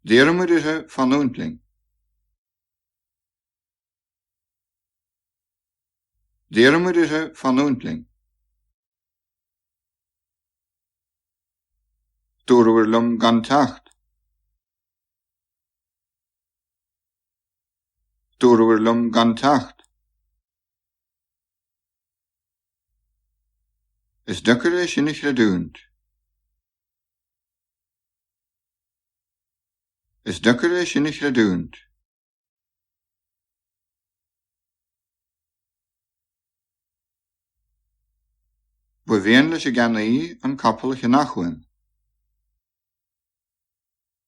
D'iarr muid uirthi fanúint linn. D'iarr muid uirthi fanúint linn. Dúradh liom gan teacht. Dúradh liom gan teacht. Is deacair é sin a chreidiúint. Is deacair é sin a chreidiúint. Ba mhian leis an gceannaí an capall a cheannach uaim.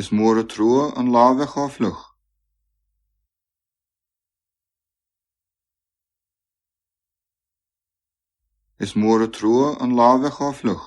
Is mór a trua an lá bheith chomh fliuch. Is mór an trua an lá bheith chomh fliuch.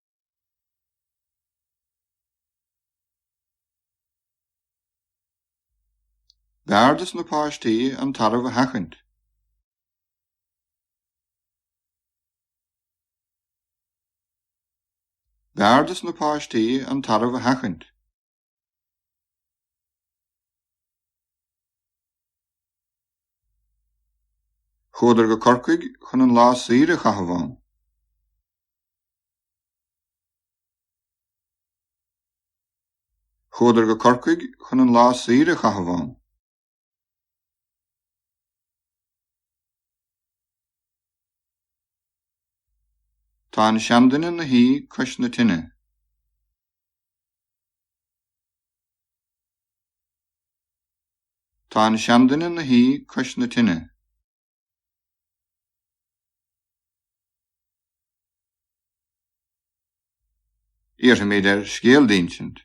B'fhearr dos na páistí an tarbh a sheachaint. B'fhearr dos na páistí an tarbh a sheachaint. Chuadar go Corcaigh chun an lá saoire a chaitheamh ann. Chuadar go Corcaigh chun an lá saoire a chaitheamh ann. Tá an seanduine 'na shuí cois na tine. Tá an seanduine 'na shuí cois na tine. Iarrfaimid air scéal d'insint.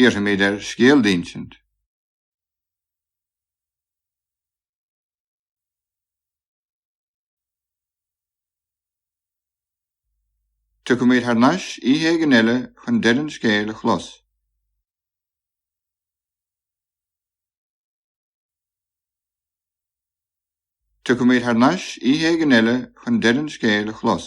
Iarrfaimid air scéal d'insint. Tiocfaimid thar n-ais oíche éigin eile chun deireadh an scéil a chlos. Tiocfaimid thar n-ais oíche éigin eile chun deireadh an scéil a chlos.